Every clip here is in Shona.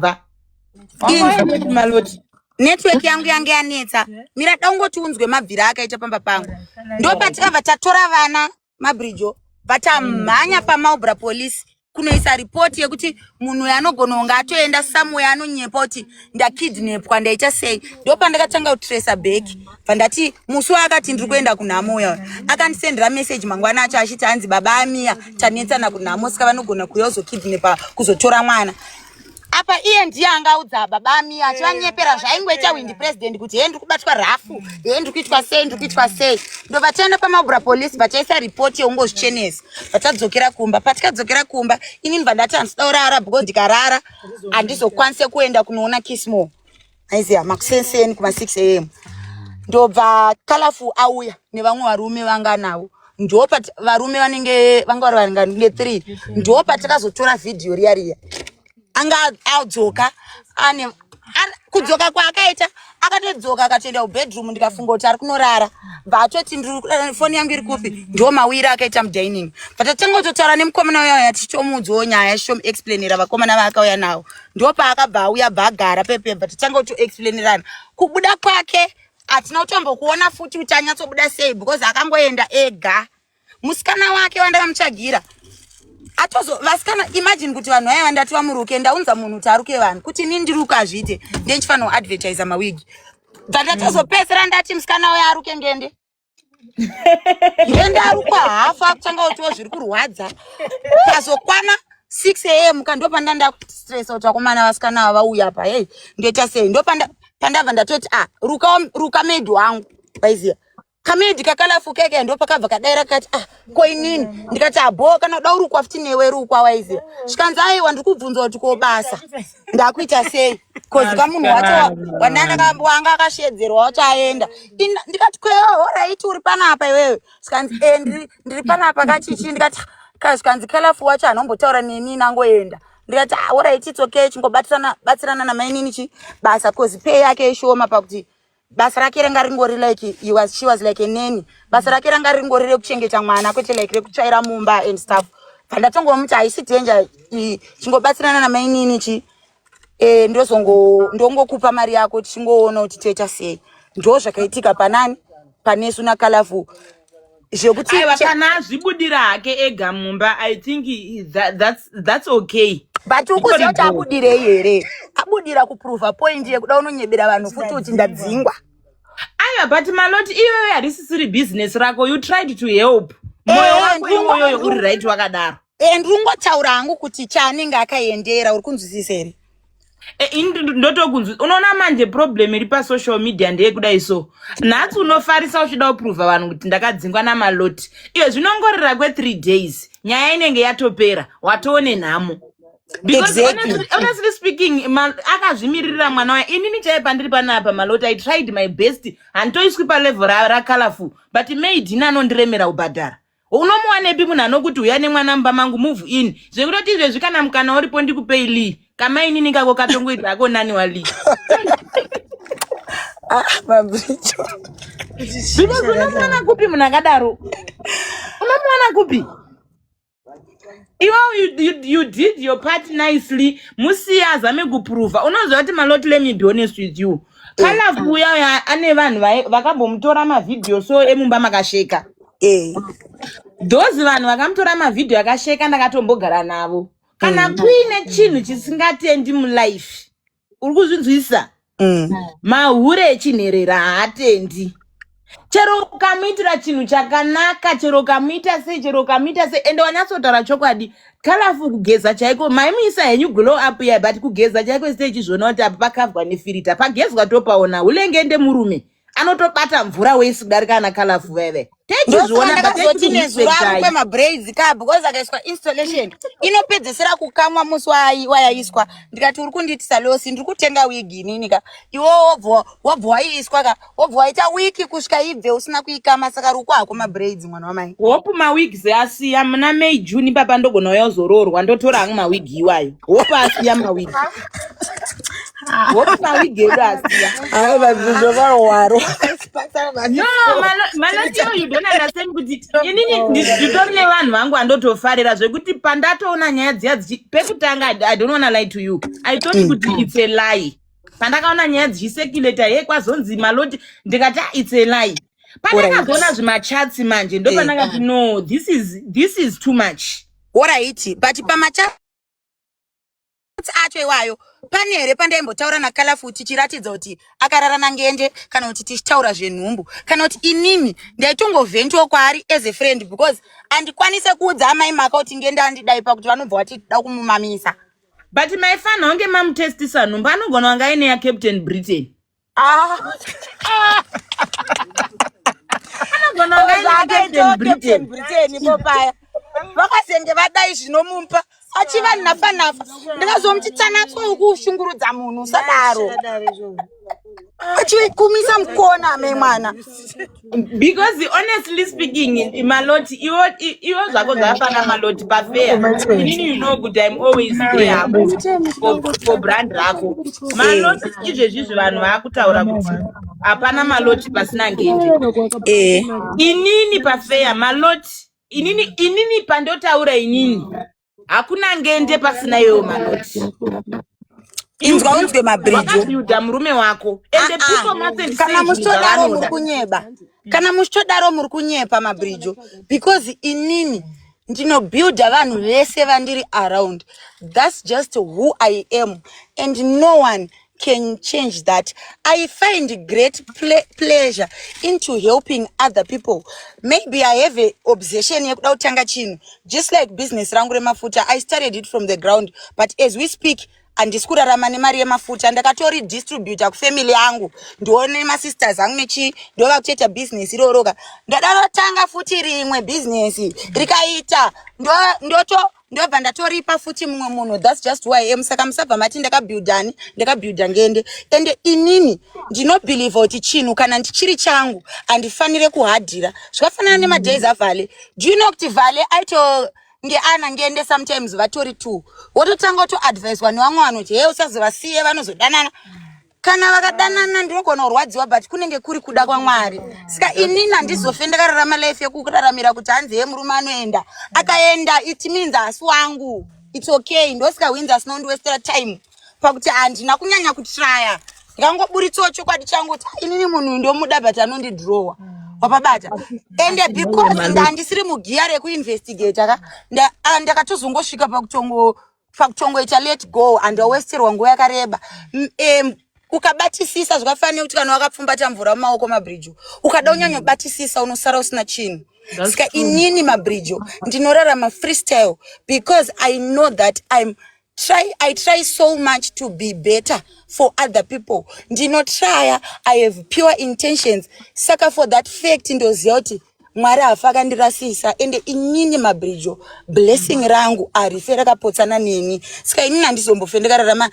bva network yangu yange yanetsa mira daungoti unzwe mabvira akaita pamba pangu ndopatikabva tatora vana mabrijo vatamhanya pamaubra police kunoisa ripoti yekuti munhu uyo anogona kunge atoenda somewhere anonyepa kuti ndakidnepwa ndaita sei ndo pandakatanga kutresa back pandati musi waakati ndiri kuenda kunhamo uya akandisendera message mangwana acho achiti hanzi baba amiya tanetsana kunhamo saka vanogona kuuya kuzokidnepa kuzotora mwana apa iye ndiye angaudza baba ami achivanyepera eh, zvaingoita windi president kuti hee ndiri kubatwa rafu hee ndiri kuitwa sei ndiri kuitwa sei ndo vataenda pamabura police vachaisa ripoti yeungozvichenesa vatadzokera kumba patikadzokera kumba inini vandati handisida kurara because ndikarara handizokwanise kuenda kunoona kismore aiziva makusenseni kuma 6 am ndobva kalafu auya nevamwe varume vanga navo ndopati varume vanenge vanga vari varingange three ndopati takazotora vhidhiyo riya riya anga adzoka ane kudzoka kwaakaita akatodzoka akatoenda kubedroom ndikafunga kuti ari kunorara vatoti eh, foni yangu iri kupi ndo mawiri akaita mudining but atangototaura nemukomana uya uya tichitomuudzawo nyaya shom explainira vakomana vaakauya nawo ndopaakabva auya bva agara pepemba titange kuti explainerana kubuda kwake hatina kutombokuona futi kuti anyatsobuda sei because akangoenda ega musikana wake wandakamutsvagira atozo vasikana imagine kuti vanhu vaya vandati vamuruke ndaunza munhu kuti aruke vanhu kuti ini ndiruke hazviite ndendifanira kuadvertisa mawigi bva ndatozopedzera ndati musikana uya aruke ngende zvendarukwa hafu akutanga utiwo zviri kurwadza kazokwana 6 am ka ndopanda ndakustresa kuti vakomana vasikana ava vauya pa hei ndoita sei ndopanda pandabva ndatoti a ah, ruka ruka maid wangu vaiziva kamedi kakalafukeke ndo pakabva kadaira kati ah ko inini ndikati abho ah, kana uda urukwa futi newe rukwa waiziva zvikanzi aiwa ndiri kubvunza kuti ko basa ndakuita sei kozi kamunhu wacho wanga akashedzerwa wacho aenda ndikati kweoraiti uri panapa iwewe zvikanzi e eh, ndiri panapa kachichi ndikati zvikanzi kalafu wacho hanombotaura neni nangoenda ndikati ah, orait its okay chingobatsirana namainini chi basa bcoz pay yake ishoma pakuti basa rake ranga ringori like he was she was like a nanny basa rake ranga ringori rekuchengeta mwana kwete like rekutsvaira mumba and stuff pandatongomuti haisi danger chingobatsirana namainini chi e, ndozongo ndongokupa mari yako tichingoona kuti toita sei ndo zvakaitika panani panesu nakalafu zvekuti aiwa kana azvibudira hake ega mumba i think that, that's, that's okay but ukuziva kuti abudirei here abudira kuprova point yekuda unonyebera vanhu futi kuti ndadzingwa aiwa but maloti iyoyo harisisiri business rako you tried to help moyo eh, wako iwoyoyo uri right wakadaro and ungotaura hangu kuti chaanenge akaendera uri kunzwisisa here e, ndotokunzwisisa unoona manje problem iri pasocial media ndeyekudai so nhasi unofarisa uchida kuprova vanhu kuti ndakadzingwa namaloti iyo zvinongorera kwethree days nyaya inenge yatopera watoone nhamo honestly speaking akazvimiririra mwana waye inini chaiye pandiri panapa maloti i tried my best handitoiswi palevel racolorful but maid ini anondiremera kubhadhara unomuwanepi munhu anokuti uya nemwana mumba mangu move in zvekutoti izvezvi kana mukana uripo ndikupei lee kamainini kako katongoita ako nani wa lee ah, unomuwana kupi munhu akadaro unomuwana kupi iwe you, you, you did your part nicely musiya azame kuprova unoziva kuti malot let me be honest with you kalove eh. uya uya ane vanhu vakambomutora mavhidhiyo so emumba makasheka eh. those vanhu vakamutora mavhidhiyo akasheka ndakatombogara navo kana mm. kuine chinhu chisingatendi mulife uri kuzvinzwisisa Mm. mahure echinherera haatendi chero ukamuitira chinhu chakanaka chero ukamuita sei chero ukamuita sei ende wanyatsotaura chokwadi kalafu kugeza chaiko maimuisa henyu glow up iya but kugeza chaiko site ichizviona kuti apa pakavwa nefirita pagezwa topaona ulenge ndemurume anotobata mvura wesi kudarika ana kalafu veve ndosaka ndakazoti nezuro akupe mabraids ka because akaiswa installation inopedzesera kukamwa musi wayaiswa ndikati uri kundiitisa losi ndiri kutenga wigi inini ka iwo wobva wobva waiiswa ka wobva waita wiki kusvika ibve usina kuikama saka ruko hako mabraids mwana wamai hope mawigs asiya muna may june papa ndogona uya uzoroorwa ndotora hangu mawigi iwayo hope asiya mawigi nditori nevanhu vangu andotofarira zvekuti pandatoona nyaya dziya pekutanga i don't wanna lie to you i thought mm. kuti it's a lie pandakaona nyaya dzichiseculator ye kwazonzi maloti ndikati ah, it's a lie pandakazoona zvimachatsi manje ndopandakati eh, ah. no this is, this is too much oraiti but pamachatsi mafruits acho iwayo pane here pandaimbotaura nakalafu tichiratidza kuti akarara nangende kana kuti tichitaura zvenhumbu kana kuti inini ndaitongovhentiwo kwaari as a friend because andikwanise kuudza amai maka kuti ngende andidai pakuti vanobva vati da kumumamisa but maifanira kunge mamutestisa nhumbu anogona wanga aine yacaptain britain Ah. vakazenge vadai zvinomumpa achiva nafa nafa ndikazomuti tsanatso yokushungurudza munhu usadaro achikumisa mukona memwana because honestly speaking maloti iwo iwo zvako zvafana maloti pafeya inini you know kuti im always there hako for brand rako maloti izvezvizvi vanhu vaakutaura kuti hapana maloti pasina ngenje eh. inini pafeya maloti inini inini pandotaura inini hakuna ngende pasina iwewo manoti inzwa unzwe mabridge wakabuilda murume wako and the Ah, ah. people must and kana say muchitodaro muri zvavanoda kunyeba kana muchitodaro muri kunyepa mabridge because inini ndinobuilda vanhu vese vandiri around thats just who i am and no one can change that i find great ple pleasure into helping other people maybe i have a obsession yekuda kutanga chinhu just like business rangu remafuta i started it from the ground but as we speak handisi kurarama nemari yemafuta ndakatori distributa kufamily yangu ndione masisters angu nechi ndova kutoita business iroroka ndadarotanga futi rimwe business rikaita ndoto ndo ndobva ndatoripa futi mumwe munhu thats just who i am saka musabva mati ndakabuildani ndakabuilda ngende ende inini ndinobhilivha kuti chinhu kana ndichiri changu handifanire kuhadhira zvakafanana nemadays avale do you know kuti vale aito ngeana ngende sometimes vatori two wototanga kutoadviswa nevamwe vanoti hee usazovasiye vanozodanana kana vakadanana ndinogona kurwadziwa but kunenge kuri kuda kwamwari saka inini handizofe ndakararama life yekuraramira kuti hanzi ye murume anoenda akaenda it means hasi wangu its okay ndosika wins asina kundiwestera time pakuti handina kunyanya kutraya ndikangoburitsawo chokwadi changu kuti inini munhu ndomuda but anondidrowa wapabata ende because ndandisiri mugiya rekuinvestigata ka ah, ndakatozongosvika pakutongo pakuchongoita let go and wawesterwa nguva yakareba um, ukabatisisa zvakafanira kuti kana wakapfumbata mvura mumaoko mabridge ukada unyanya kubatisisa unosara usina chinhu ska inini mabridge ndinorarama freestyle because i know that im try i try so much to be better for other people ndinotrya i have pure intentions saka for that fact ndoziva kuti mwari hafa akandirasisa ende inini mabridjo blessing rangu arife rakapotsana neni saka inini handizombofe ndikararama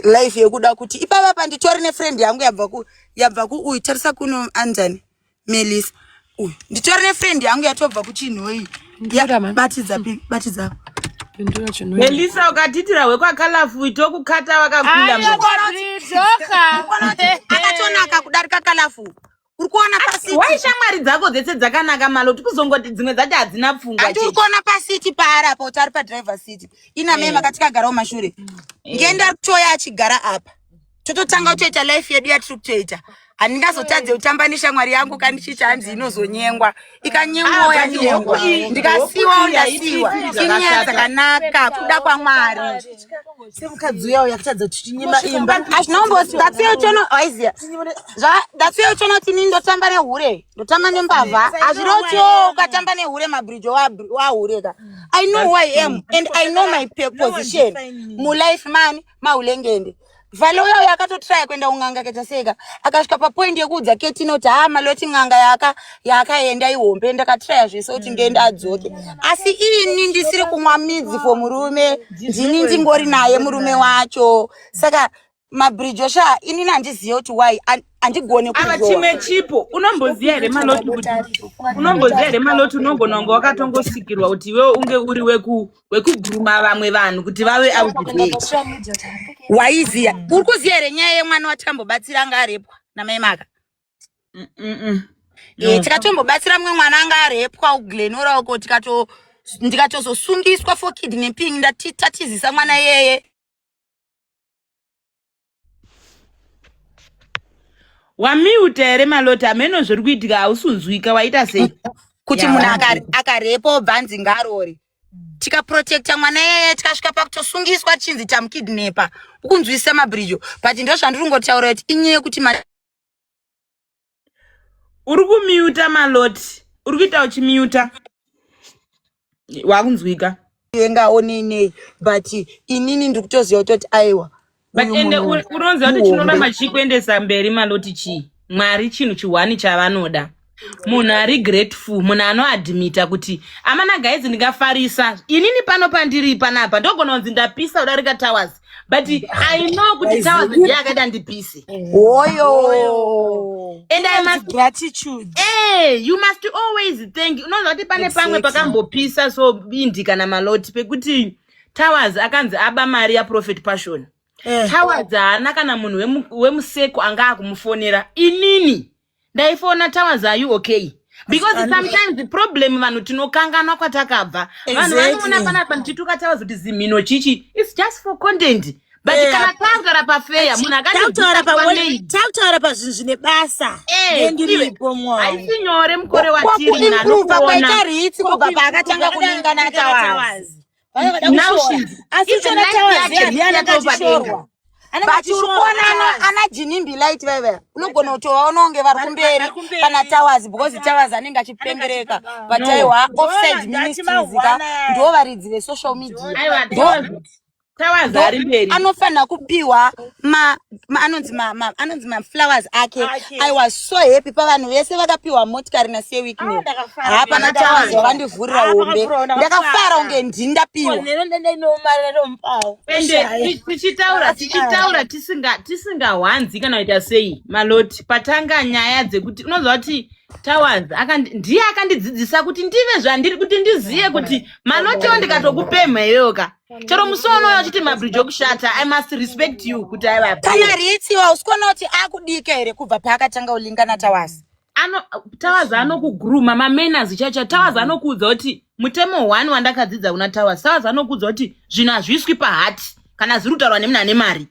life yekuda kuti ipava pa nditori nefriend yangu yabva kuuyu tarisa kuno anjani melisa uyu nditori nefriend yangu yatobva kuchinhoyi batidza batidza melisa ukatitira hwekwakalafu itokukata wakakunda akatonaka kudarika kalafu uri kuona pasiti why shamwari dzako dzese dzakanaka maloti kuzongoti dzimwe dzacho hadzina pfungwa hati uri kuona pasiti paari apa kuti ari padriver city ina mei eh. makati kagarawo mashure eh. ngenda kutoya achigara apa tototanga kutoita life yedu yatiri kutoita handingazotadze kutamba neshamwari yangu kandichiita hanzi inozonyengwa ikanyengowo ah, yanyengwa ndikasiwawo ndasiwa chinyaya dzakanaka kuda kwamwari semukadzi uya uya kutadza kuti tinyima imba achinomboaiochonoaiziya zvadatsiochono tini ndotamba nehure ndotamba nembavha hazvirotio ukatamba nehure mabridge wahure ka i know who i am and i know my position mulife mani mahulengende vhale uya uya akatotraya kuenda kun'anga akachaseka akasvika papoindi yekuudza keti inoti haa maloti n'anga yaaka yaakaenda ihombe ndakatraya zvese kuti ndiende adzoke asi ini ndisiri kumwa midzi for murume ndini ndingori naye murume wacho saka mabridge osha inini handizive kuti why and- handigone ava kuzoa chimwe chipo unomboziva here maloti kuti unomboziva here maloti unogona kunge wakatongosikirwa kuti iwewe unge uri weku wekuguruma vamwe vanhu kuti vave waiziya mm. uri kuziya here nyaya yemwana watambobatsira anga arepwa namai maka mm, mm, eh, tikatombobatsira mumwe mwana anga arepwa uglenora uko tikato ndikatozosungiswa for kidnapping ndatitatizisa mwana yeye wamiuta here malota hameno zviri kuitika hausunzwika waita sei kuti munhu akarepa obva anzi ngarori tikaprotecta mwana yeye tikasvika pakutosungiswa tichinzi tamukidnepa ukunzwisisa mabridge but ndozvandiri kungotaura kuti inyaya yekuti uri kumiuta maloti uri kuita uchimiuta wakunzwika yenga onenei but inini ndiri kutoziva kutoti aiwa but uyu ende munhu uri- unoziva kuti chinoda muhombe. machikuendesa mberi maloti chii mwari chinhu chihwani chavanoda munhu ari grateful munhu anoadmita kuti amana guys ndingafarisa inini pano pandiri panapa ndogona kunzi ndapisa kudarika towers but i know kuti tawa zidi yakaita ndipise oyo and i must gratitude hey, eh, you must always thank unoziva kuti pane pamwe pakambopisa so bindi kana maloti pekuti towers akanzi aba mari yaprofet passion eh. towers haana kana munhu wemuseko anga akumufonera inini ndaifona towers are you okay because Asani. sometimes the problem vanhu tinokanganwa kwatakabva vanhu vanoona Exactly. panapa ndichituka towers kuti zimhino chichi its just for content but Eh, kana tagara pafeya munhu tautaura pa- akandibvisa tautaura pazvinhu zvine basa Eh, iwe. nendiripo mwana haisi nyore mukore watiri nani kwakuimprova kwaita kuona ritsi kubva paakatanga kuningana tawazi ana jinimbi light vaiva unogona kutovaona kunge vari kumberi kana towers because towers anenge achipembereka but aiwa offside ministrysika ndo varidzi vesocial media anofanira kupiwa anonzi anonzi maflowers ake i was so happy pavanhu vese vakapiwa motikari nasiye weekend ah, hapana tawanzi wakandivhurira hombe ndakafara unge ndii ndapiwa tichitaura tichitaura tisingawanzi kana kuita sei maloti patanga nyaya dzekuti unoziva kuti towers ndiye akandidzidzisa kuti ndive zvandiri kuti ndizive kuti malotiwo ndikatokupemha iyoyoka chero musi waunoona uchiti mabridge okushata i must respect you kuti aivapi kana riitsiwa usikuona kuti akudika here kubva paakatanga ulingana tawasi ano tawaz anokuguruma mamenas chacha tawaz anokuudza kuti mutemo one wandakadzidza kuna tawaz tawaz anokuudza kuti zvinhu hazviiswi pahati kana zviri kutaurwa nemuna ane mari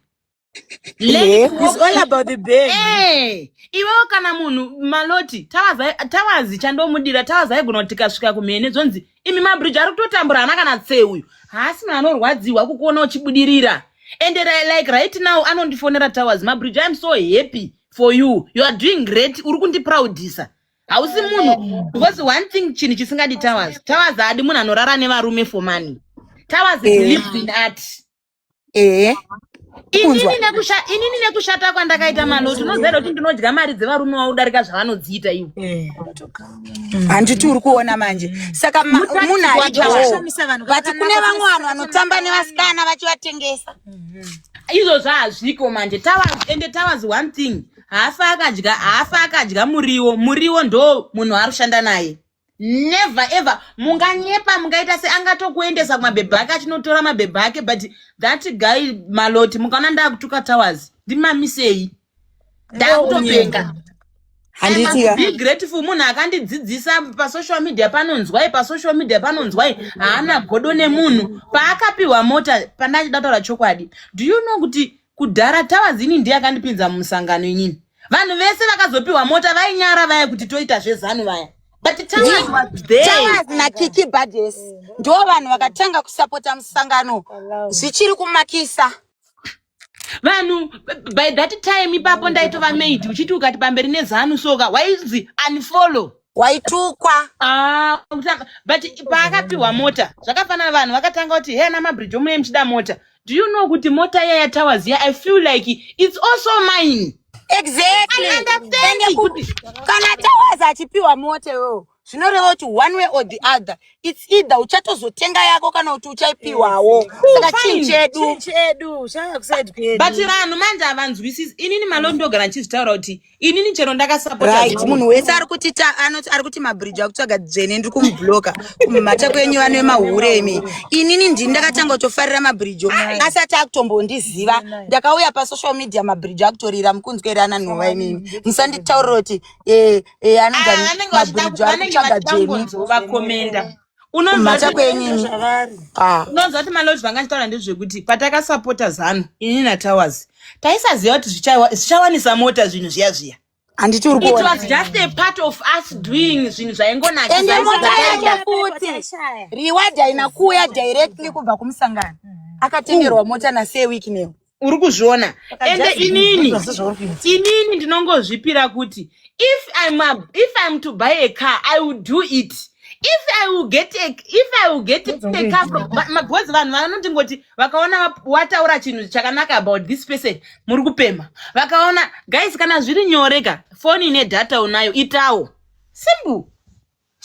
Learning It's all about the baby. Eh, iwewo kana munhu maloti tawaza tawazi chandomudira tawaza aigona kuti tikasvika kumhene zvonzi imi mabridge ari kutotambura hana kana tse uyu haasi munhu anorwadziwa kukuona uchibudirira and ri- like right now anondifonera towers mabridge iam so happy for you you are doing great uri kundiproudisa hausi munhu because one thing chinhu chisingadi towers towers haadi munhu anorara nevarume for money towers is Yeah. lived in art ehe kunzwa inini nekushata kwandakaita manoti unoziva kuti ndinodya mari dzevarume wavo kudarika zvavanodziita ivo eh. handiti uri kuona manje saka munhu aidyawo but kune vamwe vanhu vanotamba nevasikana vachivatengesa izvozvo hazviko manje ende towers one thing haafa akadya haafa akadya muriwo muriwo ndo munhu arushanda naye never ever munganyepa mungaita se angatokuendesa kumabhebhe ake achinotora mabhebhe ake but that guy maloti mukaona ndakutuka towers ndimamisei ndakutopenga handitika be grateful munhu akandidzidzisa pasocial media panonzwai pasocial media panonzwai haana godo nemunhu paakapiwa mota pandachida kutaura chokwadi do you know kuti Kudhara Tawazini ndiye akandipinza mumusangano inini. Vanhu vese vakazopiwa mota vainyara vaya kuti toita zvezanu vaya. But Tawaz was there. Tawaz na Kiki Badges ndiwo vanhu vakatanga kusapota musangano zvichiri kumakisa. Vanhu by that time ipapo ndaitova maid uchiti ukati pamberi nezanu soka waizi unfollow. waitukwa Ah, kutanga- but paakapiwa mota zvakafanana vanhu vakatanga kuti he ana mabridge omune muchida mota do you know kuti mota iya yatowers iya i feel like it's also mine exactly I understand Ende kuti kuti- kana towers achipiwa mota iwewo zvinoreva kuti one way or the other its either uchatozotenga yako kana kuti uchaipiwawo saka fine. chinhu chedu Chinhu chedu changa kusaid kwedu but vanhu manje havanzwisisi inini malo ndogara ndichizvitaura kuti inini chero ndakasapotaright munhu wese ari kuti ari kuti mabridge akutsvaga dzvene ndiri kumubloka kumhata kwenyu vano vemahure imi inini ndini ndakatanga kutofarira mabridge asati akutombondiziva ndakauya pasocial media mabridge akutorira mukunzwerana nhova imimi musanditaurira kuti eh, eh, anonzamabridge ah, ari kutsvaga dzvene kumhata kwenyini ah. unonzwa kuti malodge vanga achitaura ndezvekuti patakasapota zanu ini natowers taisaziva kuti zvichawanisa mota zvinhu zviya zviya handiti uri kuona it was just a part of us doing zvinhu zvaingonaka ende mota yake futi reward haina kuuya directly kubva kumusangano akatengerwa mota nasee week neo uri kuzviona ende inini inini ndinongozvipira kuti if I'm a, if I'm to buy a car I will do it if I will get a, if I will get a car from because vanhu vanoti ngoti vakaona wataura chinhu chakanaka about this person muri kupema vakaona guys kana zviri nyoreka foni ine data unayo itawo simple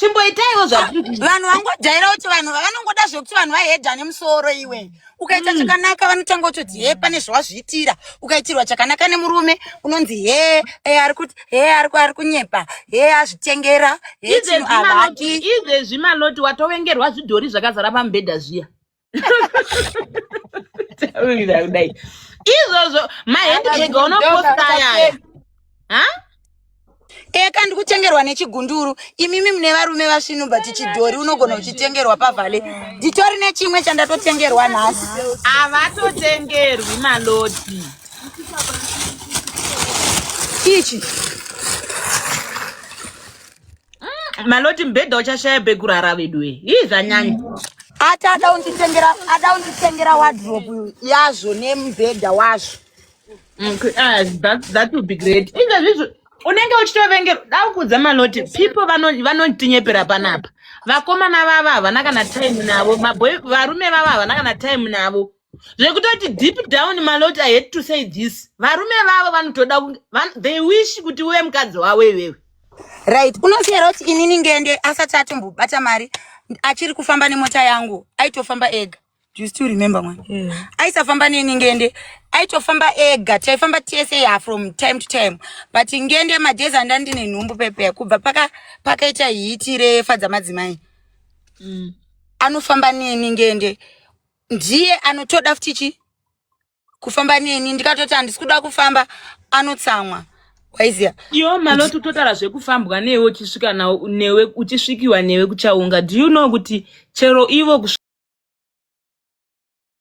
chimboitaiwo zvakuri vanhu vangojaira kuti vanhu vanongoda zvekuti vanhu vahedha nemusoro iwe ukaita mm. chakanaka vanotanga kutoti he pane zvawazviitira ukaitirwa chakanaka nemurume unonzi he e, ari kuti he ari kunyepa he azvitengera he chino avaki izvezvi maloti watovengerwa zvidhori zvakazara pamubhedha zviya taurira kudai izvozvo mahendbag unoposta yaya ha eka ndikutengerwa nechigunduru imimi mune varume vasvinu but chidhori unogona kuchitengerwa pavhale nditori nechimwe chandatotengerwa nhasi havatotengerwi malodi ichi maloti mubhedha uchashaya pekurara veduwe ii zvanyanya ati ada unditengera ada unditengera wardrobe yazvo nemubhedha wazvo Okay, ah, that, that would be great izvo zvizvo unenge uchitovengera daukudza maloti people vano- vanotinyepera panapa vakomana vava havana kana time navo maboy varume vava havana kana time navo zvekutoti deep down malot i hate to say this varume vavo vanotoda kunge van- they wish kuti uve mukadzi wavo iwewe right unosiyera kuti inini ngende asati atombobata mari achiri kufamba nemota yangu aitofamba ega Do you still remember mwana yeah. aisafamba neni ngende aitofamba ega taifamba tese ya from time to time but ngende madhezi anda ndine nhumbu pepe kubva paka pakaita hiti refa dzamadzimai mm. anofamba neni ngende ndiye anotoda futi chi kufamba neni ndikatoti handisi kuda kufamba anotsamwa waiziya iwo maloti utotara zvekufambwa newe uchisvika nawo newe uchisvikiwa newe kuchaunga do you know kuti chero ivo